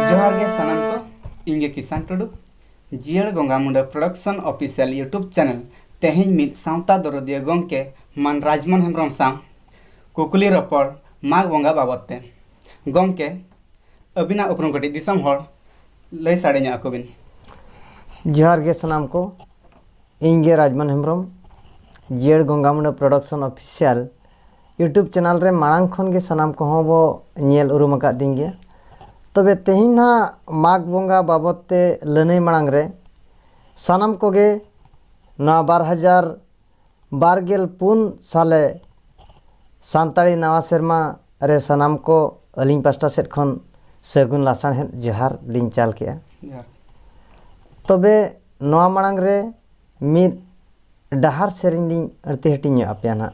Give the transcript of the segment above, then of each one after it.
ᱡᱚᱦᱟᱨ ᱜᱮ ᱥᱟᱱᱟᱢ ᱠᱚ ᱤᱧ ᱜᱮ ᱠᱤᱥᱟᱱ ᱴᱩᱰᱩ ᱡᱤᱭᱟᱹᱲ ᱵᱚᱸᱜᱟ ᱢᱩᱸᱰᱟᱹ ᱯᱨᱚᱰᱟᱠᱥᱚᱱ ᱚᱯᱷᱤᱥᱤᱭᱟᱞ ᱤᱭᱩᱴᱩᱵᱽ ᱪᱮᱱᱮᱞ ᱛᱮᱦᱮᱧ ᱢᱤᱫ ᱥᱟᱶᱛᱟ ᱫᱚᱨᱚᱫᱤᱭᱟᱹ ᱜᱚᱢᱠᱮ ᱢᱟᱱ ᱨᱟᱡᱽᱢᱚᱱ ᱦᱮᱢᱵᱨᱚᱢ ᱥᱟᱶ ᱠᱩᱠᱞᱤ ᱨᱚᱯᱚᱲ ᱢᱟᱜᱽ ᱵᱚᱸᱜᱟ ᱵᱟᱵᱚᱛ ᱛᱮ ᱜᱚᱢᱠᱮ ᱟᱹᱵᱤᱱᱟᱜ ᱩᱯᱨᱩᱢ ᱠᱟᱹᱴᱤᱡ ᱫᱤᱥᱚᱢ ᱦᱚᱲ ᱞᱟᱹᱭ ᱥᱟᱰᱮ ᱧᱚᱜ ᱟᱠᱚ ᱵᱤᱱ ᱡᱚᱦᱟᱨ ᱜᱮ ᱥᱟᱱᱟᱢ ᱠᱚ ᱤᱧ ᱜᱮ ᱨᱟᱡᱽᱢᱚᱱ ᱦᱮᱢᱵᱨᱚᱢ ᱡᱤᱭᱟᱹᱲ ᱜᱚᱝᱜᱟ ᱢᱩᱸᱰᱟᱹ ᱯᱨᱚᱰᱟᱠᱥᱚᱱ ᱚᱯᱷᱤᱥᱤᱭᱟᱞ ᱤᱭᱩᱴᱩᱵᱽ ᱪᱮᱱᱮᱞ ᱨᱮ ᱢᱟᱲᱟᱝ ᱠᱷᱚᱱ ᱜᱮ ᱥᱟᱱᱟᱢ ᱠᱚᱦᱚᱸ ᱵᱚ ᱧᱮᱞ ᱩᱨᱩᱢ ᱟᱠᱟᱫ ᱫᱤᱧ ᱜᱮᱭᱟ ᱛᱚᱵᱮ ᱛᱮᱦᱮᱧ ᱱᱟᱦᱟᱜ ᱢᱟᱜᱽ ᱵᱚᱸᱜᱟ ᱵᱟᱵᱚᱛ ᱛᱮ ᱞᱟᱹᱱᱟᱹᱭ ᱢᱟᱲᱟᱝ ᱨᱮ ᱥᱟᱱᱟᱢ ᱠᱚᱜᱮ ᱱᱚᱣᱟ ᱵᱟᱨ ᱦᱟᱡᱟᱨ ᱵᱟᱨᱜᱮᱞ ᱯᱩᱱ ᱥᱟᱞᱮ ᱥᱟᱱᱛᱟᱲᱤ ᱱᱟᱣᱟ ᱥᱮᱨᱢᱟ ᱨᱮ ᱥᱟᱱᱟᱢ ᱠᱚ ᱟᱹᱞᱤᱧ ᱯᱟᱥᱴᱟ ᱥᱮᱫ ᱠᱷᱚᱱ ᱥᱟᱹᱜᱩᱱ ᱞᱟᱥᱟᱬᱦᱮᱫ ᱡᱚᱦᱟᱨ ᱞᱤᱧ ᱪᱟᱞ ᱠᱮᱜᱼᱟ ᱛᱚᱵᱮ ᱱᱚᱣᱟ ᱢᱟᱲᱟᱝ ᱨᱮ ᱢᱤᱫ ᱰᱟᱦᱟᱨ ᱥᱮᱨᱮᱧ ᱞᱤᱧ ᱟᱹᱲᱛᱤ ᱦᱟᱹᱴᱤᱧ ᱧᱚᱜ ᱟᱯᱮᱭᱟ ᱱᱟᱜ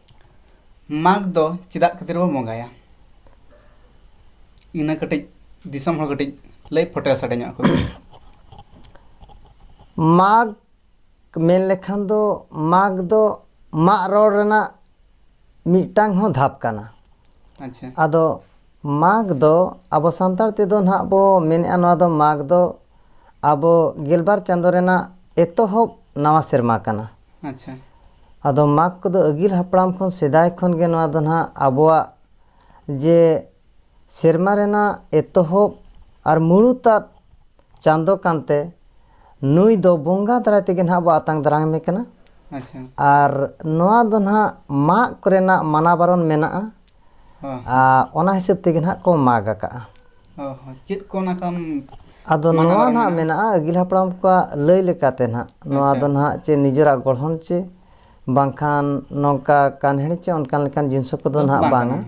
ᱢᱟᱜᱽ ᱫᱚ ᱪᱮᱫᱟᱜ ᱠᱷᱟᱹᱛᱤᱨ ᱵᱚᱱ ᱵᱚᱸᱜᱟᱭᱟ ᱤᱱᱟᱹ ᱠᱟᱹᱴᱤᱡ ᱫᱤᱥᱚᱢ ᱦᱚᱲ ᱠᱟᱹᱴᱤᱡ ᱞᱟᱹᱭ ᱯᱷᱚᱴᱮᱞ ᱥᱟᱰᱮ ᱧᱚᱜ ᱟᱠᱚ ᱢᱟᱜᱽ ᱢᱮᱱ ᱞᱮᱠᱷᱟᱱ ᱫᱚ ᱢᱟᱜᱽ ᱫᱚ ᱢᱟᱜ ᱨᱚᱲ ᱨᱮᱱᱟᱜ ᱢᱤᱫᱴᱟᱝ ᱦᱚᱸ ᱫᱷᱟᱯ ᱠᱟᱱᱟ ᱟᱪᱪᱷᱟ ᱟᱫᱚ ᱢᱟᱜᱽ ᱫᱚ ᱟᱵᱚ ᱥᱟᱱᱛᱟᱲ ᱛᱮᱫᱚ ᱱᱟᱦᱟᱜ ᱵᱚ ᱢᱮᱱᱮᱫᱼᱟ ᱱᱚᱣᱟ ᱫᱚ ᱢᱟᱜᱽ ᱫᱚ ᱟᱵᱚ ᱜᱮᱞᱵᱟᱨ ᱪᱟᱸᱫᱳ ᱨᱮᱱᱟᱜ ᱮᱛᱚᱦᱚᱵ ᱱᱟᱣᱟ ᱥᱮᱨᱢᱟ ᱠᱟᱱᱟ ᱟᱪᱪᱷᱟ ᱟᱫᱚ ᱢᱟᱜᱽ ᱠᱚᱫᱚ ᱟᱹᱜᱤᱞ ᱦᱟᱯᱲᱟᱢ ᱠᱷᱚᱱ ᱥᱮᱫᱟᱭ ᱠᱷᱚᱱ ᱜᱮ ᱱᱚᱣᱟ ᱫᱚ ᱱᱟᱦᱟᱜ ᱟᱵᱚᱣᱟᱜ ᱡᱮ ᱥᱮᱨᱢᱟ ᱨᱮᱱᱟᱜ ᱮᱛᱚᱦᱚᱵ ᱟᱨ ᱢᱩᱬᱩᱛᱟᱫ ᱪᱟᱸᱫᱚ ᱠᱟᱱᱛᱮ ᱱᱩᱭ ᱫᱚ ᱵᱚᱸᱜᱟ ᱫᱟᱨᱟᱭ ᱛᱮᱜᱮ ᱱᱟᱦᱟᱜ ᱵᱚ ᱟᱛᱟᱝ ᱫᱟᱨᱟᱢᱮ ᱠᱟᱱᱟ ᱟᱪᱪᱷᱟ ᱟᱨ ᱱᱚᱣᱟ ᱫᱚ ᱱᱟᱦᱟᱜ ᱢᱟᱜᱽ ᱠᱚᱨᱮᱱᱟᱜ ᱢᱟᱱᱟ ᱵᱟᱨᱚᱱ ᱢᱮᱱᱟᱜᱼᱟ ᱚᱱᱟ ᱦᱤᱥᱟᱹᱵ ᱛᱮᱜᱮ ᱱᱟᱦᱟᱜ ᱠᱚ ᱢᱟᱜᱽ ᱟᱠᱟᱜᱼᱟ ᱪᱮᱫ ᱠᱚ ᱚᱱᱟ ᱠᱟᱢ ᱟᱫᱚ ᱱᱚᱣᱟ ᱱᱟᱦᱟᱜ ᱢᱮᱱᱟᱜᱼᱟ ᱟᱹᱜᱤᱞ ᱦᱟᱯᱲᱟᱢ ᱠᱚᱣᱟᱜ ᱞᱟᱹᱭ ᱞᱮᱠᱟᱛᱮ ᱱᱟᱦᱟᱜ ᱱᱚᱣᱟ ᱫᱚ ᱱᱟᱦᱟᱜ ᱪᱮ ᱱᱤᱡᱮᱨᱟᱜ ᱜᱚᱲᱦᱚᱱ ᱪᱮ ᱵᱟᱝᱠᱷᱟᱱ ᱱᱚᱝᱠᱟ ᱠᱟᱱᱦᱮᱲ ᱪᱮ ᱚᱱᱠᱟᱱ ᱞᱮᱠᱟᱱ ᱡᱤᱱᱤᱥ ᱠᱚᱫᱚ ᱱᱟᱦᱟᱜ ᱵᱟᱝᱟ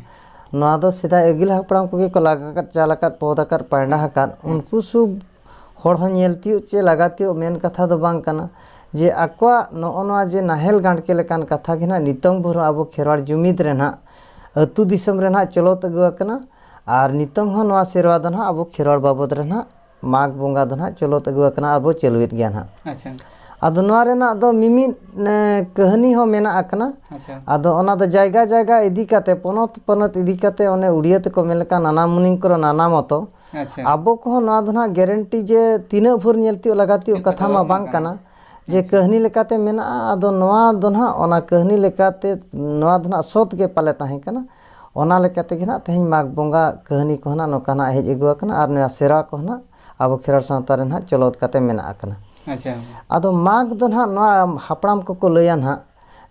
ᱱᱚᱣᱟ ᱫᱚ ᱥᱮᱫᱟᱭ ᱟᱹᱜᱤᱞ ᱦᱟᱯᱲᱟᱢ ᱠᱚᱜᱮ ᱠᱚ ᱞᱟᱜᱟᱣ ᱟᱠᱟᱫ ᱪᱟᱞ ᱟᱠᱟᱫ ᱯᱚᱫ ᱟᱠᱟᱫ ᱯᱟᱭᱱᱟ ᱟᱠᱟᱫ ᱩᱱᱠᱩ ᱥᱩᱵ ᱦᱚᱲ ᱦᱚᱸ ᱧᱮᱞ ᱛᱤᱭᱳᱜ ᱪᱮ ᱞᱟᱜᱟ ᱛᱤᱭᱳᱜ ᱢᱮᱱ ᱠᱟᱛᱷᱟ ᱫᱚ ᱵᱟᱝ ᱠᱟᱱᱟ ᱡᱮ ᱟᱠᱚᱣᱟᱜ ᱱᱚᱜᱼᱚ ᱱᱚᱣᱟ ᱡᱮ ᱱᱟᱦᱮᱞ ᱜᱟᱲᱠᱮ ᱞᱮᱠᱟᱱ ᱠᱟᱛᱷᱟ ᱜᱮ ᱱᱟᱦᱟᱜ ᱱᱤᱛᱚᱝ ᱵᱷᱳᱨ ᱦᱚᱸ ᱟᱵᱚ ᱠᱷᱮᱨᱣᱟᱲ ᱡᱩᱢᱤᱫ ᱨᱮ ᱱᱟᱦᱟᱜ ᱟᱛᱳ ᱫᱤᱥᱚᱢ ᱨᱮ ᱱᱟᱦᱟᱜ ᱪᱚᱞᱚᱛ ᱟᱹᱜᱩ ᱟᱠᱟᱱᱟ ᱟᱨ ᱱᱤᱛᱚᱝ ᱦᱚᱸ ᱱᱚᱣᱟ ᱥᱮᱨᱣᱟ ᱫᱚ ᱱᱟᱦᱟᱜ ᱟᱵᱚ ᱠᱷᱮᱨᱣᱟᱲ ᱵᱟᱵᱚᱫ ᱨᱮ ᱱᱟᱦᱟᱜ ᱢᱟᱜᱽ ᱵᱚᱸᱜᱟ ᱫᱚ ᱱᱟᱦᱟᱜ ᱪᱚᱞᱚᱛ ᱟᱹᱜᱩ ᱟᱠᱟᱱᱟ ᱟᱨ ᱵᱚ ᱪᱟᱹᱞᱩᱭᱮᱫ ᱜᱮᱭᱟ ᱱᱟᱦᱟᱜ ᱟᱪᱪᱷᱟ ᱟᱫᱚ ᱱᱚᱣᱟ ᱨᱮᱱᱟᱜ ᱫᱚ ᱢᱤᱢᱤᱫ ᱠᱟᱹᱦᱱᱤ ᱦᱚᱸ ᱢᱮᱱᱟᱜ ᱟᱠᱟᱱᱟ ᱟᱪᱪᱷᱟ ᱟᱫᱚ ᱚᱱᱟ ᱫᱚ ᱡᱟᱭᱜᱟ ᱡᱟᱭᱜᱟ ᱤᱫᱤ ᱠᱟᱛᱮᱫ ᱯᱚᱱᱚᱛ ᱯᱚᱱᱚᱛ ᱤᱫᱤ ᱠᱟᱛᱮᱫ ᱚᱱᱮ ᱩᱲᱤᱭᱟᱹ ᱛᱮᱠᱚ ᱢᱮᱱ ᱞᱮᱠᱟ ᱱᱟᱱᱟ ᱢᱩᱱᱤ ᱠᱚᱨᱚ ᱱᱟᱱᱟ ᱢᱚᱛᱚ ᱟᱪᱪᱷᱟ ᱟᱵᱚ ᱠᱚᱦᱚᱸ ᱱᱚᱣᱟ ᱫᱚ ᱱᱟᱦᱟᱜ ᱜᱮᱨᱮᱱᱴᱤ ᱡᱮ ᱛᱤᱱᱟᱹᱜ ᱵᱷᱳᱨ ᱧᱮᱞ ᱛᱤᱭᱳᱜ ᱞᱟᱜᱟ ᱛᱤᱭᱳᱜ ᱠᱟᱛᱷᱟ ᱢᱟ ᱵᱟᱝ ᱠᱟᱱᱟ ᱡᱮ ᱠᱟᱹᱦᱱᱤ ᱞᱮᱠᱟᱛᱮ ᱢᱮᱱᱟᱜᱼᱟ ᱟᱫᱚ ᱱᱚᱣᱟ ᱫᱚ ᱱᱟᱦᱟᱜ ᱚᱱᱟ ᱠᱟᱹᱦᱱᱤ ᱞᱮᱠᱟᱛᱮ ᱱᱚᱣᱟ ᱫᱚ ᱱᱟᱦᱟᱜ ᱥᱚᱛ ᱜᱮ ᱯᱟᱞᱮ ᱛᱟᱦᱮᱸ ᱠᱟᱱᱟ ᱚᱱᱟ ᱞᱮᱠᱟ ᱛᱮᱜᱮ ᱱᱟᱦᱟᱜ ᱛᱮᱦᱮᱧ ᱢᱟᱜᱽ ᱵᱚᱸᱜᱟ ᱠᱟᱹᱦᱱᱤ ᱠᱚᱦᱚᱸ ᱱᱟᱦᱟᱜ ᱱᱚᱝᱠᱟ ᱱᱟᱦᱟᱜ ᱦᱮᱡ ᱟᱹᱜᱩ ᱟᱠᱟᱱᱟ ᱟᱨ ᱱᱚᱣᱟ ᱥᱮᱨᱣᱟ ᱠᱚ ᱱᱟᱦᱟᱜ ᱟᱵᱚ ᱠᱷᱮᱨᱣᱟᱲ ᱥᱟᱶᱛᱟ ᱨᱮ ᱱᱟᱦᱟᱜ ᱪᱚᱞᱚᱛ ᱠᱟᱛᱮ ᱢᱮᱱᱟᱜ ᱟᱠᱟᱱᱟ ᱟᱪᱪᱷᱟ ᱟᱫᱚ ᱢᱟᱜᱽ ᱫᱚ ᱱᱟᱦᱟᱜ ᱱᱚᱣᱟ ᱦᱟᱯᱲᱟᱢ ᱠᱚᱠᱚ ᱞᱟᱹᱭᱟ ᱱᱟᱦᱟᱜ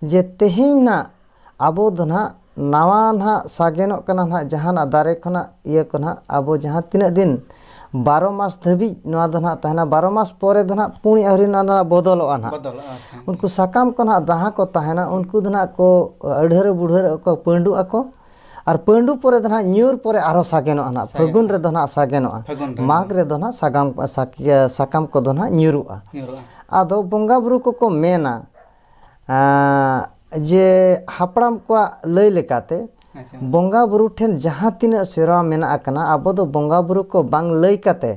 ᱡᱮ ᱛᱮᱦᱮᱧ ᱱᱟᱦᱟᱜ ᱟᱵᱚ ᱫᱚ ᱱᱟᱦᱟᱜ ᱱᱟᱣᱟ ᱱᱟᱦᱟᱜ ᱥᱟᱜᱮᱱᱚᱜ ᱠᱟᱱᱟ ᱱᱟᱦᱟᱜ ᱡᱟᱦᱟᱱᱟᱜ ᱫᱟᱨᱮ ᱠᱷᱚᱱᱟᱜ ᱤᱭᱟᱹ ᱠᱚ ᱱᱟᱦᱟᱜ ᱟᱵᱚ ᱡᱟᱦᱟᱸ ᱛᱤᱱᱟᱹᱜ ᱫᱤᱱ ᱵᱟᱨᱚ ᱢᱟᱥ ᱫᱷᱟᱹᱵᱤᱡ ᱱᱚᱣᱟ ᱫᱚ ᱱᱟᱦᱟᱜ ᱛᱟᱦᱮᱱᱟ ᱵᱟᱨᱚ ᱢᱟᱥ ᱯᱚᱨᱮ ᱫᱚ ᱱᱟᱦᱟᱜ ᱯᱩᱬ ᱟᱹᱣᱨᱤ ᱱᱚᱣᱟ ᱫᱚ ᱱᱟᱦᱟᱜ ᱵᱚᱫᱚᱞᱚᱜᱼᱟ ᱱᱟᱦᱟᱜ ᱵᱚᱫᱚᱞᱚᱜᱼᱟ ᱟᱪᱪᱷᱟ ᱩᱱᱠᱩ ᱥᱟᱠᱟᱢ ᱠᱚ ᱱᱟᱦᱟᱜ ᱡᱟᱦᱟᱸ ᱠᱚ ᱛᱟᱦᱮᱱᱟ ᱩᱱᱠᱩ ᱫᱚ ᱱᱟᱦᱟᱜ ᱠᱚ ᱟᱹᱲᱦᱟᱹᱨ ᱵᱩᱲᱦᱟᱹᱨ ᱠᱚ ᱯᱟᱹᱰᱩᱜ ᱟᱠᱚ ᱟᱨ ᱯᱟᱹᱰᱩ ᱯᱚᱨᱮ ᱫᱚ ᱱᱟᱦᱟᱜ ᱧᱩᱨ ᱯᱚᱨᱮ ᱟᱨᱦᱚᱸ ᱥᱟᱜᱮᱱᱚᱜᱼᱟ ᱱᱟᱦᱟᱜ ᱯᱷᱟᱹᱜᱩᱱ ᱨᱮᱫᱚ ᱱᱟᱦᱟᱜ ᱥᱟᱜᱮᱱᱚᱜᱼᱟ ᱯᱷᱟᱹᱜᱩᱱ ᱨᱮ᱾ ᱢᱟᱜᱽ ᱨᱮᱫᱚ ᱱᱟᱦᱟᱜ ᱥᱟᱜᱟᱢ ᱥᱟᱠ- ᱤᱭᱟᱹ ᱥᱟᱠᱟᱢ ᱠᱚᱫᱚ ᱱᱟᱦᱟᱜ ᱧᱩᱨᱩᱜᱼᱟ ᱧᱩᱨᱩᱜᱼᱟ ᱟᱫᱚ ᱵᱚᱸᱜᱟ ᱵᱩᱨᱩ ᱠᱚᱠᱚ ᱢᱮᱱᱟ ᱡᱮ ᱦᱟᱯᱲᱟᱢ ᱠᱚᱣᱟᱜ ᱞᱟᱹᱭ ᱞᱮᱠᱟᱛᱮ ᱟᱪᱪᱷᱟ ᱵᱚᱸᱜᱟ ᱵᱩᱨᱩ ᱴᱷᱮᱱ ᱡᱟᱦᱟᱸ ᱛᱤᱱᱟᱹᱜ ᱥᱮᱨᱣᱟ ᱢᱮᱱᱟᱜ ᱟᱠᱟᱱᱟ ᱟᱵᱚ ᱫᱚ ᱵᱚᱸᱜᱟ ᱵᱩᱨᱩ ᱠᱚ ᱵᱟᱝ ᱞᱟᱹᱭ ᱠᱟᱛᱮ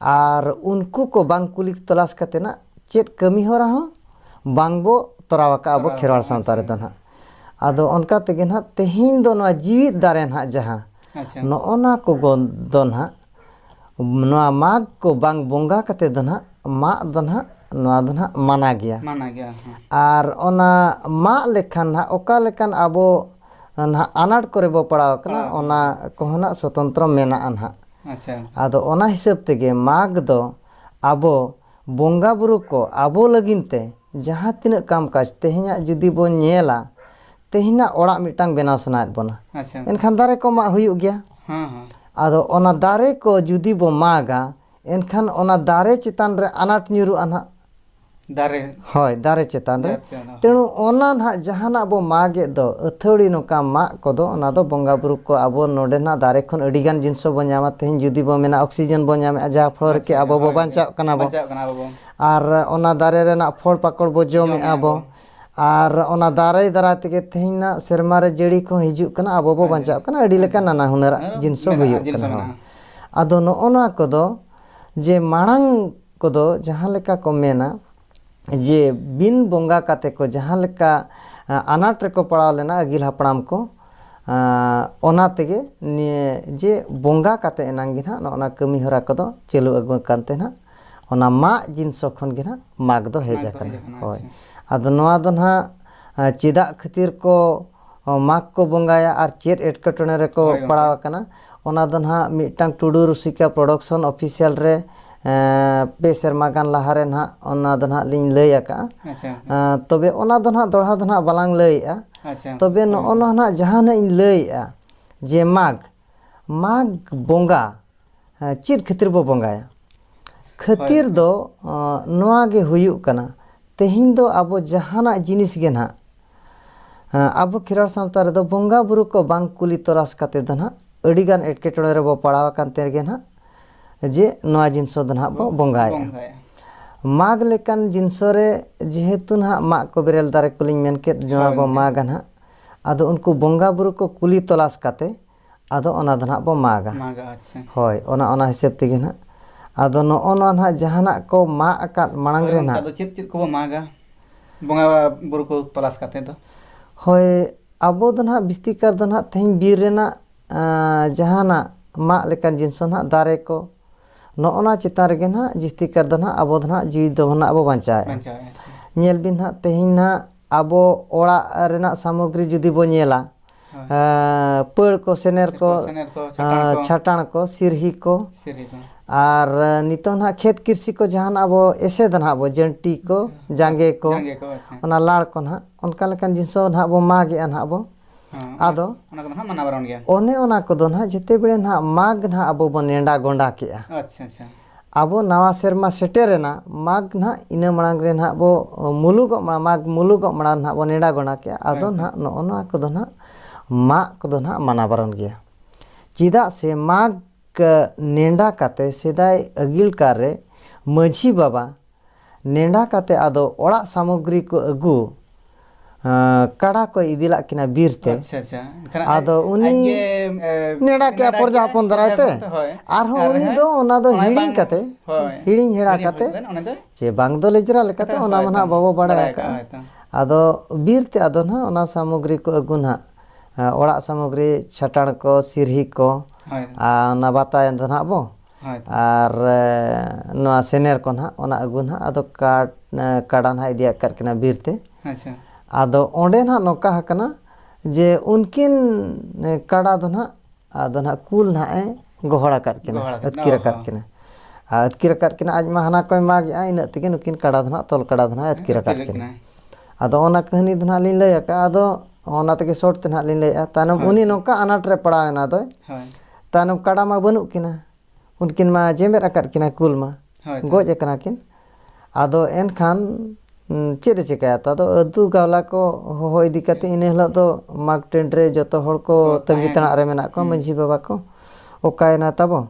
ᱟᱨ ᱩᱱᱠᱩ ᱠᱚ ᱵᱟᱝ ᱠᱩᱞᱤ ᱛᱚᱞᱟᱥ ᱠᱟᱛᱮ ᱱᱟᱜ ᱪᱮᱫ ᱠᱟᱹᱢᱤ ᱦᱚᱨᱟ ᱦᱚᱸ ᱵᱟᱝ ᱵᱚ ᱛᱚᱨᱟᱣ ᱟᱠᱟᱜᱼᱟ ᱟᱵᱚ ᱛᱚᱨᱟᱣ ᱠᱷᱮᱨᱣᱟᱲ ᱟᱠᱟᱫᱟ, ᱥᱟᱶᱛᱟ ᱟᱪᱪᱷᱟ᱾ ᱨᱮᱫᱚ ᱱᱟᱜ ᱟᱫᱚ ᱚᱱᱠᱟ ᱛᱮᱜᱮ ᱱᱟᱜ ᱛᱮᱦᱮᱧ ᱫᱚ ᱱᱚᱣᱟ ᱡᱤᱣᱤᱫ ᱫᱟᱨᱮ ᱱᱟᱜ ᱡᱟᱦᱟᱸ ᱟᱪᱪᱷᱟ ᱱᱚᱜᱼᱚ ᱱᱟ ᱠᱚ ᱜᱚ- ᱫᱚ ᱱᱟᱜ ᱱᱚᱣᱟ ᱢᱟᱜᱽ ᱠᱚ ᱵᱟᱝ ᱵᱚᱸᱜᱟ ᱠᱟᱛᱮ ᱫᱚ ᱱᱟᱦᱟᱜ ᱢᱟᱜ ᱫᱚ ᱱᱟᱦᱟᱜ ᱱᱚᱣᱟ ᱫᱚ ᱱᱟᱦᱟᱜ ᱢᱟᱱᱟ ᱜᱮᱭᱟ ᱢᱟᱱᱟ ᱜᱮᱭᱟ ᱦᱮᱸ ᱟᱨ ᱚᱱᱟ ᱢᱟᱜ ᱞᱮᱠᱷᱟᱱ ᱱᱟᱦᱟᱜ ᱚᱠᱟ ᱞᱮᱠᱟᱱ ᱟᱵᱚ ᱱᱟᱦᱟᱜ ᱟᱱᱟᱴ ᱠᱚᱨᱮ ᱵᱚ ᱯᱟᱲᱟᱣ ᱠᱟᱱᱟ ᱚᱱᱟ ᱠᱚᱦᱚᱸ ᱱᱟᱦᱟᱜ ᱥᱚᱛᱚᱱᱛᱨᱚ ᱢᱮᱱᱟᱜᱼᱟ ᱱᱟᱦᱟᱜ ᱟᱪᱪᱷᱟ ᱟᱫᱚ ᱚᱱᱟ ᱦᱤᱥᱟᱹᱵ ᱛᱮᱜᱮ ᱢᱟᱜᱽ ᱫᱚ ᱟᱵᱚ ᱵᱚᱸᱜᱟ ᱵᱩᱨᱩ ᱠᱚ ᱟᱵᱚ ᱞᱟᱹᱜᱤᱫ ᱛᱮ ᱡᱟᱦᱟᱸ ᱛᱤᱱᱟᱹᱜ ᱠᱟᱢ ᱠᱟᱡᱽ ᱛᱮᱦᱮᱧᱟᱜ ᱡᱩᱫᱤ ᱵᱚᱱ ᱧᱮᱞᱟ ᱛᱮᱦᱮᱧᱟᱜ ᱚᱲᱟᱜ ᱢᱤᱫᱴᱟᱝ ᱵᱮᱱᱟᱣ ᱥᱟᱱᱟᱭᱮᱫ ᱵᱚᱱᱟ ᱮᱱᱠᱷᱟᱱ ᱫᱟᱨᱮ ᱠᱚ ᱢᱟᱜ ᱦᱩᱭᱩᱜ ᱜᱮᱭᱟ ᱟᱫᱚ ᱚᱱᱟ ᱫᱟᱨᱮ ᱠᱚ ᱡᱩᱫᱤ ᱵᱚ ᱢᱟᱜᱟ ᱮᱱᱠᱷᱟᱱ ᱚᱱᱟ ᱫᱟᱨᱮ ᱪᱮᱛᱟᱱ ᱨᱮ ᱟᱱᱟᱴ ᱧᱩᱨᱩᱜᱼᱟ ᱱᱟᱦᱟᱜ ᱫᱟᱨᱮ ᱦᱳᱭ ᱫᱟᱨᱮ ᱪᱮᱛᱟᱱ ᱨᱮ ᱛᱮᱬᱩ ᱚᱱᱟ ᱱᱟᱦᱟᱜ ᱡᱟᱦᱟᱱᱟᱜ ᱵᱚ ᱢᱟᱜᱮᱫ ᱫᱚ ᱟᱹᱛᱷᱟᱹᱣᱲᱤ ᱱᱚᱝᱠᱟ ᱢᱟᱜ ᱠᱚᱫᱚ ᱚᱱᱟ ᱫᱚ ᱵᱚᱸᱜᱟ ᱵᱩᱨᱩ ᱠᱚ ᱟᱵᱚ ᱱᱚᱰᱮ ᱱᱟᱦᱟᱜ ᱫᱟᱨᱮ ᱠᱷᱚᱱ ᱟᱹᱰᱤ ᱜᱟᱱ ᱡᱤᱱᱤᱥ ᱵᱚ ᱧᱟᱢᱟ ᱛᱮᱦᱮᱧ ᱡᱩᱫᱤ ᱵᱚ ᱢᱮᱱᱟ ᱚᱠᱥᱤᱡᱮᱱ ᱵᱚ ᱧᱟᱢᱮᱜᱼᱟ ᱡᱟᱦᱟᱸ ᱯᱷᱚᱞ ᱨᱮᱠᱮ ᱟᱵᱚ ᱵᱚ ᱵᱟᱧᱪᱟᱜ ᱠᱟᱱᱟ ᱵᱚ ᱟᱨ ᱚᱱᱟ ᱫᱟᱨᱮ ᱨᱮᱱᱟᱜ ᱯᱷᱚᱞ ᱯᱟᱠᱚᱲ ᱵᱚ ᱡᱚᱢᱮᱜᱼᱟ ᱵᱚ ᱟᱨ ᱚᱱᱟ ᱫᱟᱨᱮ ᱫᱟᱨᱟᱭ ᱛᱮᱜᱮ ᱛᱮᱦᱮᱧ ᱱᱟᱜ ᱥᱮᱨᱢᱟ ᱨᱮ ᱡᱟᱹᱲᱤ ᱠᱚᱦᱚᱸ ᱦᱤᱡᱩᱜ ᱠᱟᱱᱟ ᱟᱵᱚ ᱵᱚ ᱵᱟᱧᱪᱟᱜ ᱠᱟᱱᱟ ᱟᱹᱰᱤ ᱞᱮᱠᱟᱱ ᱱᱟᱱᱟ ᱦᱩᱱᱟᱹᱨᱟᱜ ᱡᱤᱱᱤᱥ ᱦᱚᱸ ᱦᱩᱭᱩᱜ ᱠᱟᱱᱟ ᱦᱳᱭ ᱟᱫᱚ ᱱᱚᱜᱼᱚ ᱱᱚᱣᱟ ᱠᱚᱫᱚ ᱡᱮ ᱢᱟᱲᱟᱝ ᱠᱚᱫᱚ ᱡᱟᱦᱟᱸ ᱞᱮᱠᱟ ᱠᱚ ᱢᱮᱱᱟ ᱡᱮ ᱵᱤᱱ ᱵᱚᱸᱜᱟ ᱠᱟᱛᱮᱫ ᱠᱚ ᱡᱟᱦᱟᱸ ᱞᱮᱠᱟ ᱟᱱᱟᱴ ᱨᱮᱠᱚ ᱯᱟᱲᱟᱣ ᱞᱮᱱᱟ ᱟᱹᱜᱤᱞ ᱦᱟᱯᱲᱟᱢ ᱠᱚ ᱚᱱᱟ ᱛᱮᱜᱮ ᱱᱤᱭᱟᱹ ᱡᱮ ᱵᱚᱸᱜᱟ ᱠᱟᱛᱮᱫ ᱮᱱᱟᱝ ᱜᱮ ᱱᱟᱜ ᱱᱚᱜᱼᱚ ᱱᱚᱣᱟ ᱠᱟᱹᱢᱤ ᱦᱚᱨᱟ ᱠᱚᱫᱚ ᱪᱟᱹᱞᱩ ᱟᱹᱜᱩ ᱟᱠᱟᱱ ᱛᱮ ᱱᱟᱜ ᱚᱱᱟ ᱢᱟᱜ ᱡᱤᱱᱥᱚ ᱠᱷᱚᱱ ᱜᱮ ᱱᱟᱦᱟᱜ ᱢᱟᱜᱽ ᱫᱚ ᱦᱮᱡ ᱟᱠᱟᱱᱟ ᱦᱳᱭ ᱟᱫᱚ ᱱᱚᱣᱟ ᱫᱚ ᱱᱟᱦᱟᱜ ᱪᱮᱫᱟᱜ ᱠᱷᱟᱹᱛᱤᱨ ᱠᱚ ᱢᱟᱜᱽ ᱠᱚ ᱵᱚᱸᱜᱟᱭᱟ ᱟᱨ ᱪᱮᱫ ᱮᱴᱠᱮᱴᱚᱬᱮ ᱨᱮᱠᱚ ᱯᱟᱲᱟᱣ ᱟᱠᱟᱱᱟ ᱚᱱᱟ ᱫᱚ ᱱᱟᱦᱟᱜ ᱢᱤᱫᱴᱟᱝ ᱴᱩᱰᱩ ᱨᱩᱥᱤᱠᱟ ᱯᱨᱚᱰᱚᱠᱥᱚᱱ ᱚᱯᱷᱤᱥᱤᱭᱟᱞ ᱨᱮ ᱯᱮ ᱥᱮᱨᱢᱟ ᱜᱟᱱ ᱞᱟᱦᱟ ᱨᱮ ᱱᱟᱦᱟᱜ ᱚᱱᱟ ᱫᱚ ᱱᱟᱦᱟᱜ ᱞᱤᱧ ᱞᱟᱹᱭ ᱟᱠᱟᱫᱼᱟ ᱛᱚᱵᱮ ᱚᱱᱟ ᱫᱚ ᱱᱟᱦᱟᱜ ᱫᱚᱦᱲᱟ ᱫᱚ ᱱᱟᱦᱟᱜ ᱵᱟᱞᱟᱝ ᱞᱟᱹᱭᱮᱫᱼᱟ ᱛᱚᱵᱮ ᱱᱚᱜᱼᱚ ᱱᱚᱣᱟ ᱱᱟᱦᱟᱜ ᱡᱟᱦᱟᱸ ᱱᱟᱦᱟᱜ ᱤᱧ ᱞᱟᱹᱭᱮᱫᱼᱟ ᱡᱮ ᱢᱟᱜᱽ ᱢᱟᱜᱽ ᱵᱚᱸᱜᱟ ᱪᱮᱫ ᱠᱷᱟᱹᱛᱤᱨ ᱵᱚ ᱵᱚᱸᱜᱟᱭᱟ ᱠᱷᱟᱹᱛᱤᱨ ᱫᱚ ᱱᱚᱣᱟ ᱜᱮ ᱦᱩᱭᱩᱜ ᱠᱟᱱᱟ ᱛᱮᱦᱮᱧ ᱫᱚ ᱟᱵᱚ ᱡᱟᱦᱟᱱᱟᱜ ᱡᱤᱱᱤᱥ ᱜᱮ ᱱᱟᱦᱟᱜ ᱟᱵᱚ ᱠᱷᱮᱨᱣᱟᱲ ᱥᱟᱶᱛᱟ ᱨᱮᱫᱚ ᱵᱚᱸᱜᱟ ᱵᱩᱨᱩ ᱠᱚ ᱵᱟᱝ ᱠᱩᱞᱤ ᱛᱚᱞᱟᱥ ᱠᱟᱛᱮ ᱫᱚ ᱱᱟᱦᱟᱜ ᱟᱹᱰᱤᱜᱟᱱ ᱮᱴᱠᱮᱴᱚᱬᱮ ᱨᱮᱵᱚ ᱯᱟᱲᱟᱣ ᱟᱠᱟᱱ ᱛᱮᱜᱮ ᱱᱟᱦᱟᱜ ᱡᱮ ᱱᱚᱣᱟ ᱡᱤᱱᱤᱥ ᱫᱚ ᱱᱟᱦᱟᱜ ᱵᱚ ᱵᱚᱸᱜᱟᱭᱟ ᱢᱟᱜᱽ ᱞᱮᱠᱟᱱ ᱡᱤᱱᱤᱥ ᱨᱮ ᱡᱮᱦᱮᱛᱩ ᱱᱟᱦᱟᱜ ᱢᱟᱜᱽ ᱠᱚ ᱵᱮᱨᱮᱞ ᱫᱟᱨᱮ ᱠᱚᱞᱤᱧ ᱢᱮᱱ ᱠᱮᱫ ᱱᱚᱣᱟ ᱵᱚ ᱢᱟᱜᱟ ᱱᱟᱦᱟᱜ ᱟᱫᱚ ᱩᱱᱠᱩ ᱵᱚᱸᱜᱟ ᱵᱩᱨᱩ ᱠᱚ ᱠᱩᱞᱤ ᱛᱚᱞᱟᱥ ᱠᱟᱛᱮ ᱟᱫᱚ ᱚᱱᱟ ᱫᱚ ᱱᱟᱦᱟᱜ ᱵᱚ ᱢᱟᱜᱟ ᱢᱟᱜᱟ ᱟᱪᱪᱷᱟ ᱦᱳᱭ ᱚᱱᱟ ᱚᱱᱟ ᱦᱤᱥᱟᱹᱵ ᱛᱮᱜᱮ ᱱᱟᱦᱟᱜ ᱟᱫᱚ ᱱᱚᱜᱼᱚ ᱱᱚᱣᱟ ᱱᱟᱦᱟᱜ ᱡᱟᱦᱟᱱᱟᱜ ᱠᱚ ᱢᱟᱜ ᱟᱠᱟᱫ ᱢᱟᱲᱟᱝ ᱦᱳᱭ ᱨᱮ ᱚᱱᱠᱟ ᱱᱟᱦᱟᱜ ᱫᱚ ᱪᱮᱫ ᱪᱮᱫ ᱠᱚᱵᱚ ᱢᱟᱜᱟ ᱵᱚᱸᱜᱟ ᱵᱩᱨᱩ ᱠᱚ ᱛᱚᱞᱟᱥ ᱠᱟᱛᱮ ᱫᱚ ᱦᱳᱭ ᱟᱵᱚ ᱫᱚ ᱱᱟᱦᱟᱜ ᱵᱤᱥᱛᱤ ᱠᱟᱨ ᱫᱚ ᱱᱟᱦᱟᱜ ᱛᱮᱦᱮᱧ ᱵᱤᱨ ᱨᱮᱱᱟᱜ ᱟᱸ, ᱡᱟᱦᱟᱱᱟᱜ ᱢᱟᱜ ᱞᱮᱠᱟᱱ ᱡᱤᱱᱤᱥ ᱦᱚᱸ ᱱᱟᱦᱟᱜ ᱫᱟᱨᱮ ᱠᱚ ᱱᱚᱜᱼᱚ ᱱᱚᱣᱟ ᱪᱮᱛᱟᱱ ᱨᱮᱜᱮ ᱱᱟᱦᱟᱜ ᱡᱤᱥᱛᱤ ᱠᱟᱨ ᱫᱚ ᱱᱟᱦᱟᱜ ᱟᱵᱚ ᱫᱚ ᱱᱟᱦᱟᱜ ᱡᱤᱣᱤ ᱫᱚ ᱱᱟᱦᱟᱜ ᱵᱚ ᱵᱟᱧᱪᱟᱣᱮᱫᱼᱟ ᱵᱟᱧᱪᱟᱣᱮᱫᱼᱟ ᱧᱮᱞ ᱵᱤᱱ ᱱᱟᱦᱟᱜ ᱛᱮᱦᱮᱧ ᱱᱟᱦᱟᱜ ᱟᱵᱚ ᱚᱲᱟᱜ ᱨᱮᱱᱟᱜ ᱥᱟᱢᱚᱜᱽᱨᱤ ᱡᱩᱫᱤ ᱵᱚ ᱧᱮᱞᱟ ᱯᱟᱹᱲ ᱠᱚ ᱥᱮᱱᱮᱨ ᱠᱚ ᱪᱷᱟᱴᱟᱬ ᱠᱚ ᱥᱤᱨᱦᱤ ᱠᱚ ᱟᱨ ᱱᱤᱛᱚᱜ ᱱᱟᱦᱟᱜ ᱠᱷᱮᱛ ᱠᱤᱨᱥᱤ ᱠᱚ ᱡᱟᱦᱟᱱᱟᱜ ᱟᱵᱚ ᱮᱥᱮᱫ ᱱᱟᱦᱟᱜ ᱵᱚ ᱡᱟᱹᱱᱴᱤ ᱠᱚ ᱡᱟᱸᱜᱮ ᱠᱚ ᱚᱱᱟ ᱞᱟᱲ ᱠᱚ ᱱᱟᱦᱟᱜ ᱚᱱᱠᱟ ᱞᱮᱠᱟᱱ ᱡᱤᱱᱤᱥ ᱦᱚᱸ ᱱᱟᱦᱟᱜ ᱵᱚ ᱢᱟᱜᱽ ᱮᱫᱼᱟ ᱱᱟᱦᱟᱜ ᱵᱚ ᱟᱫᱚ ᱚᱱᱮ ᱚᱱᱟ ᱠᱚᱫᱚ ᱱᱟᱦᱟᱜ ᱡᱮᱛᱮ ᱵᱮᱲᱮ ᱱᱟᱦᱟᱜ ᱢᱟᱜᱽ ᱱᱟᱦᱟᱜ ᱟᱵᱚ ᱵᱚᱱ ᱱᱮᱰᱟ ᱜᱚᱸᱰᱟ ᱠᱮᱫᱼᱟ ᱟᱵᱚ ᱱᱟᱣᱟ ᱥᱮᱨᱢᱟ ᱥᱮᱴᱮᱨᱮᱱᱟ ᱢᱟᱜᱽ ᱱᱟᱦᱟᱜ ᱤᱱᱟᱹ ᱢᱟᱲᱟᱝ ᱨᱮ ᱱᱟᱦᱟᱜ ᱵᱚ ᱢᱩᱞᱩᱜᱚᱜ ᱢᱟᱲᱟᱝ ᱢᱟᱜᱽ ᱢᱩᱞᱩᱜᱚᱜ ᱢᱟᱲᱟᱝ ᱱᱟᱦᱟᱜ ᱵᱚ ᱱᱮᱰᱟ ᱜᱚᱸᱰᱟ ᱠᱮᱜᱼᱟ ᱟᱫᱚ ᱱᱟᱦᱟᱜ ᱱᱚᱜᱼᱚ ᱱᱚᱣᱟ ᱠᱚᱫᱚ ᱱᱟᱦᱟᱜ ᱢᱟᱜᱽ ᱠᱚᱫᱚ ᱱᱟᱦᱟᱜ ᱢᱟᱱᱟ ᱵᱟᱨᱚᱱ ᱜᱮᱭᱟ ᱪᱮᱫᱟᱜ ᱥᱮ ᱢᱟᱜᱽ ᱱᱮᱰᱟ ᱠᱟᱛᱮᱫ ᱥᱮᱫᱟᱭ ᱟᱹᱜᱤᱞ ᱠᱟᱞ ᱨᱮ ᱢᱟᱺᱡᱷᱤ ᱵᱟᱵᱟ ᱱᱮᱸᱰᱟ ᱠᱟᱛᱮ ᱟᱫᱚ ᱚᱲᱟᱜ ᱥᱟᱢᱚᱜᱽᱨᱤ ᱠᱚ ᱟᱹᱜᱩ ᱠᱟᱰᱟ ᱠᱚᱭ ᱤᱫᱤᱞᱟᱜ ᱠᱤᱱᱟ ᱵᱤᱨ ᱛᱮ᱾ ᱟᱪᱪᱷᱟ ᱟᱪᱪᱷᱟ ᱮᱱᱠᱷᱟᱱ ᱟᱡ ᱟᱫᱚ ᱩᱱᱤ ᱟᱡ ᱜᱮ ᱱᱮᱸᱰᱟ ᱠᱮᱜᱼᱟ ᱱᱮᱰᱟ ᱯᱚᱨᱡᱟ ᱠᱮᱜᱼᱟᱭ ᱦᱚᱯᱚᱱ ᱯᱚᱨᱡᱟ ᱫᱟᱨᱟᱭ ᱛᱮ ᱦᱚᱯᱚᱱ ᱛᱮ ᱦᱳᱭ ᱟᱨᱦᱚᱸ ᱟᱨ ᱩᱱᱤ ᱦᱮᱸ ᱫᱚ ᱚᱱᱟ ᱫᱚ ᱚᱱᱟᱭ ᱦᱤᱲᱤᱧ ᱵᱟᱝ ᱠᱟᱛᱮ ᱦᱳᱭ ᱦᱤᱲᱤᱧ ᱦᱮᱲᱟ ᱦᱤᱲᱤᱧ ᱠᱟᱛᱮ ᱦᱚᱴᱚ ᱠᱟᱫᱟ ᱚᱱᱟ ᱫᱚ ᱪᱮ ᱵᱟᱝ ᱫᱚ ᱞᱮᱡᱽᱨᱟ ᱞᱮᱠᱟᱛᱮ ᱦᱳᱭ ᱚᱱᱟ ᱢᱟ ᱛᱚ ᱱᱟᱦᱟᱜ ᱵᱟᱵᱚ ᱵᱟᱲᱟᱭ ᱵᱟᱲᱟᱭ ᱟᱠᱟᱜᱼᱟ ᱦᱳᱭ ᱛᱚ ᱟᱠᱟᱜᱼᱟ᱾ ᱟᱫᱚ ᱵᱤᱨ ᱛᱮ ᱟᱫᱚ ᱱᱟᱦᱟᱜ ᱚᱱᱟ ᱥᱟᱢᱚᱜᱽᱨᱤ ᱠᱚ ᱟᱹᱜᱩ ᱱᱟᱦᱟᱜ ᱚᱲᱟᱜ ᱥᱟᱢᱚᱜᱽᱨᱤ ᱪᱷᱟᱴᱟᱬ ᱠᱚ ᱥᱤᱨᱦᱤ ᱠᱚ ᱦᱳᱭ ᱟᱨ ᱚᱱᱟ ᱵᱟᱛᱟᱭᱮᱱ ᱫᱚ ᱱᱟᱦᱟᱜ ᱵᱚ᱾ ᱟᱨ ᱱᱚᱣᱟ ᱥᱮᱱᱮᱨ ᱠᱚ ᱱᱟᱦᱟᱜ ᱚᱱᱟ ᱟᱹᱜᱩ ᱱᱟᱦᱟᱜ ᱟᱫᱚ ᱠᱟᱴ ᱠᱟᱰᱟ ᱱᱟᱦᱟᱜ ᱤᱫᱤ ᱟᱠᱟᱫ ᱠᱤᱱᱟ ᱵᱤᱨ ᱛᱮ ᱟᱫᱚ ᱚᱸᱰᱮ ᱱᱟᱦᱟᱜ ᱱᱚᱝᱠᱟ ᱟᱠᱟᱱᱟ ᱡᱮ ᱩᱱᱠᱤᱱ ᱠᱟᱰᱟ ᱫᱚ ᱱᱟᱦᱟᱜ ᱟᱫᱚ ᱱᱟᱦᱟᱜ ᱠᱩᱞ ᱱᱟᱦᱟᱜ ᱮ ᱜᱚᱦᱚᱲ ᱟᱠᱟᱫ ᱠᱤᱱᱟ ᱟᱹᱛᱠᱤᱨ ᱟᱠᱟᱫ ᱠᱤᱱᱟ ᱟᱨ ᱟᱹᱛᱠᱤᱨ ᱟᱠᱟᱫ ᱠᱤᱱᱟ ᱟᱡ ᱢᱟ ᱦᱟᱱᱟ ᱠᱚᱭ ᱢᱟᱜᱽ ᱮᱫᱼᱟ ᱤᱱᱟᱹᱜ ᱛᱮᱜᱮ ᱱᱩᱠᱤᱱ ᱠᱟᱰᱟ ᱫᱚ ᱱᱟᱦᱟᱜ ᱛᱚᱞ ᱠᱟᱰᱟ ᱫᱚ ᱱᱟᱦᱟᱜ ᱟᱹᱛᱠᱤᱨ ᱟᱠᱟᱫ ᱠᱤᱱᱟ ᱟᱫᱚ ᱚᱱᱟ ᱠᱟᱹᱦᱱᱤ ᱫᱚ ᱱᱟᱦᱟᱜ ᱞᱤᱧ ᱞᱟᱹᱭ ᱟᱠᱟᱫᱼᱟ ᱟᱫᱚ ᱚᱱᱟ ᱛᱮᱜᱮ ᱥᱚᱨᱴ ᱛᱮ ᱱᱟᱦᱟᱜ ᱞᱤᱧ ᱞᱟᱹᱭᱮᱫᱼᱟ ᱛᱟᱭᱱᱚᱢ ᱩᱱᱤ ᱱᱚᱝᱠᱟ ᱟᱱᱟᱴ ᱨᱮ ᱯᱟᱲᱟᱣ ᱮᱱᱟ ᱫᱚᱭ ᱛᱟᱭᱱᱚᱢ ᱠᱟᱰᱟ ᱢᱟ ᱵᱟᱹᱱᱩᱜ ᱠᱤᱱᱟ ᱩᱱᱠᱤᱱ ᱢᱟ ᱡᱮᱢᱮᱫ ᱟᱠᱟᱫ ᱠᱤᱱᱟ ᱠᱩᱞ ᱢᱟ ᱦᱳᱭ ᱛᱚ᱾ ᱜᱚᱡ ᱟᱠᱟᱱᱟ ᱠᱤᱱ ᱟᱫᱚ ᱮᱱᱠᱷᱟᱱ ᱩᱸ, ᱪᱮᱫ ᱮ ᱪᱮᱠᱟᱭᱟ ᱛᱚ ᱟᱫᱚ ᱟᱹᱛᱩ ᱜᱟᱣᱞᱟ ᱠᱚ ᱦᱚᱦᱚ ᱤᱫᱤ ᱠᱟᱛᱮ ᱤᱱᱟᱹ ᱦᱤᱞᱳᱜ ᱫᱚ ᱢᱟᱜᱽ ᱴᱟᱺᱰ ᱨᱮ ᱡᱚᱛᱚ ᱦᱚᱲ ᱠᱚ ᱛᱟᱺᱜᱤ ᱛᱟᱲᱟᱜ ᱨᱮ ᱢᱮᱱᱟᱜ ᱠᱚᱣᱟ ᱢᱟᱺᱡᱷᱤ ᱵᱟᱵᱟ ᱠᱚ ᱚᱠᱟᱭᱮᱱᱟ ᱛᱟᱵᱚ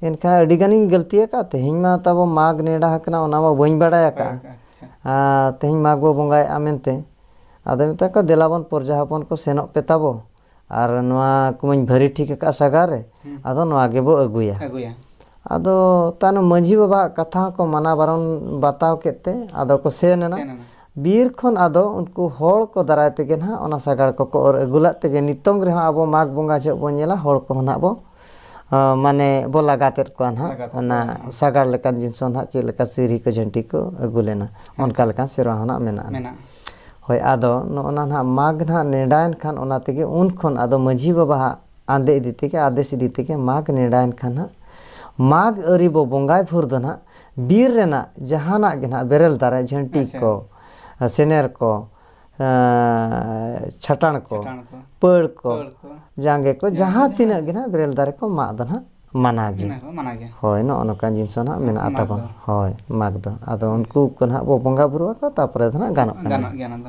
ᱮᱱᱠᱷᱟᱱ ᱟᱹᱰᱤ ᱜᱟᱱᱤᱧ ᱜᱟᱹᱞᱛᱤ ᱟᱠᱟᱫ ᱛᱮᱦᱮᱧ ᱢᱟ ᱛᱟᱵᱚ ᱢᱟᱜᱽ ᱱᱮᱰᱟ ᱟᱠᱟᱱᱟ ᱚᱱᱟ ᱢᱟ ᱵᱟᱹᱧ ᱵᱟᱲᱟᱭ ᱟᱠᱟᱫᱼᱟ ᱟᱪᱪᱷᱟ ᱟᱨ ᱛᱮᱦᱮᱧ ᱢᱟᱜᱽ ᱵᱚ ᱵᱚᱸᱜᱟᱭᱮᱫᱼᱟ ᱢᱮᱱᱛᱮ ᱟᱫᱚ ᱢᱮᱛᱟ ᱠᱚᱣᱟ ᱫᱮᱞᱟ ᱵᱚᱱ ᱯᱨᱚᱡᱟ ᱦᱚᱯᱚᱱ ᱠᱚ ᱥᱮᱱᱚᱜ ᱯᱮ ᱛᱟᱵᱚ ᱟᱨ ᱱᱚᱣᱟ ᱠᱚᱢᱟᱹᱧ ᱵᱷᱟᱹᱨᱤ ᱴᱷᱤᱠ ᱟᱠᱟᱫᱼᱟ ᱥᱟᱜᱟᱲ ᱨᱮ ᱟᱫᱚ ᱱᱚᱣᱟ ᱜᱮᱵᱚ ᱟᱹᱜᱩᱭᱟ ᱟᱹᱜᱩᱭᱟ ᱟᱫᱚ ᱛᱟᱭᱱᱚᱢ ᱢᱟᱺᱡᱷᱤ ᱵᱟᱵᱟᱣᱟᱜ ᱠᱟᱛᱷᱟ ᱦᱚᱸᱠᱚ ᱢᱟᱱᱟ ᱵᱟᱨᱚᱱ ᱵᱟᱛᱟᱣ ᱠᱮᱫ ᱛᱮ ᱟᱫᱚ ᱠᱚ ᱥᱮᱱ ᱮᱱᱟ ᱵᱤᱨ ᱠᱷᱚᱱ ᱟᱫᱚ ᱩᱱᱠᱩ ᱦᱚᱲ ᱠᱚ ᱫᱟᱨᱟᱭ ᱛᱮᱜᱮ ᱱᱟᱦᱟᱜ ᱚᱱᱟ ᱥᱟᱜᱟᱲ ᱠᱚᱠᱚ ᱚᱨ ᱟᱹᱜᱩ ᱞᱮᱫ ᱛᱮᱜᱮ ᱱᱤᱛᱚᱝ ᱨᱮᱦᱚᱸ ᱟᱵᱚ ᱢᱟᱜᱽ ᱵᱚᱸᱜᱟ ᱡᱚᱦᱚᱜ ᱵᱚᱱ ᱧᱮᱞᱟ ᱦᱚᱲ ᱠᱚᱦᱚᱸ ᱱᱟᱦᱟᱜ ᱵᱚ ᱢᱟᱱᱮ ᱵᱚ ᱞᱟᱜᱟᱛᱮᱫ ᱠᱚᱣᱟ ᱱᱟᱦᱟᱜ ᱚᱱᱟ ᱥᱟᱜᱟᱲ ᱞᱮᱠᱟᱱ ᱡᱤᱱᱤᱥ ᱦᱚᱸ ᱱᱟᱦᱟᱜ ᱪᱮᱫ ᱞᱮᱠᱟ ᱥᱤᱨᱦᱤ ᱠᱚ ᱡᱷᱟᱹᱱᱴᱤ ᱠᱚ ᱟᱹᱜᱩ ᱞᱮᱱᱟ ᱚᱱᱠᱟ ᱞᱮᱠᱟᱱ ᱥᱮᱨᱣᱟ ᱦᱚᱸ ᱱᱟᱦᱟᱜ ᱢᱮᱱᱟᱜᱼᱟ ᱢᱮᱱᱟᱜᱼᱟ ᱦᱳᱭ ᱟᱫᱚ ᱱᱚᱜᱼᱚ ᱱᱟ ᱱᱟᱦᱟᱜ ᱢᱟᱜᱽ ᱱᱟᱦᱟᱜ ᱱᱮᱰᱟᱭᱮᱱ ᱠᱷᱟᱱ ᱚᱱᱟ ᱛᱮᱜᱮ ᱩᱱ ᱠᱷᱚᱱ ᱟᱫᱚ ᱢᱟᱺᱡᱷᱤ ᱵᱟᱵᱟᱣᱟᱜ ᱟᱸᱫᱮ ᱤᱫᱤ ᱛᱮᱜᱮ ᱟᱫᱮᱥ ᱤᱫᱤ ᱛᱮᱜᱮ ᱢᱟᱜᱽ ᱱᱮᱰᱟᱭᱮᱱ ᱠᱷᱟᱱ ᱱᱟᱦᱟᱜ ᱢᱟᱜᱽ ᱟᱹᱣᱨᱤ ᱵᱚ ᱵᱚᱸᱜᱟᱭ ᱵᱷᱳᱨ ᱫᱚ ᱱᱟᱦᱟᱜ ᱵᱤᱨ ᱨᱮᱱᱟᱜ ᱡᱟᱦᱟᱱᱟᱜ ᱜᱮ ᱱᱟᱦᱟᱜ ᱵᱮᱨᱮᱞ ᱫᱟᱨᱮ ᱡᱷᱟᱹᱱᱴᱤ ᱠᱚ ᱥᱮᱱᱮᱨ ᱠᱚ ᱪᱷᱟᱴᱟᱬ ᱠᱚ ᱯᱟᱹᱲ ᱠᱚ ᱡᱟᱸᱜᱮ ᱠᱚ ᱡᱟᱦᱟᱸ ᱛᱤᱱᱟᱹᱜ ᱜᱮ ᱱᱟᱦᱟᱜ ᱵᱮᱨᱮᱞ ᱫᱟᱨᱮ ᱠᱚ ᱢᱟᱜ ᱫᱚ ᱱᱟᱦᱟᱜ ᱢᱟᱱᱟ ᱜᱮ ᱦᱳᱭ ᱱᱚᱜᱼᱚ ᱱᱚᱝᱠᱟᱱ ᱡᱤᱱᱤᱥ ᱦᱚᱸ ᱱᱟᱦᱟᱜ ᱢᱮᱱᱟᱜᱼᱟ ᱛᱟᱵᱚᱱ ᱦᱳᱭ ᱢᱟᱜᱽ ᱫᱚ ᱟᱫᱚ ᱩᱱᱠᱩ ᱠᱚ ᱱᱟᱦᱟᱜ ᱵᱚᱱ ᱵᱚᱸᱜᱟᱼᱵᱩᱨᱩ ᱟᱠᱚᱣᱟ ᱛᱟᱨᱯᱚᱨᱮ ᱫᱚ ᱱᱟᱦᱟᱜ ᱜᱟᱱᱚᱜ ᱠᱟᱱᱟ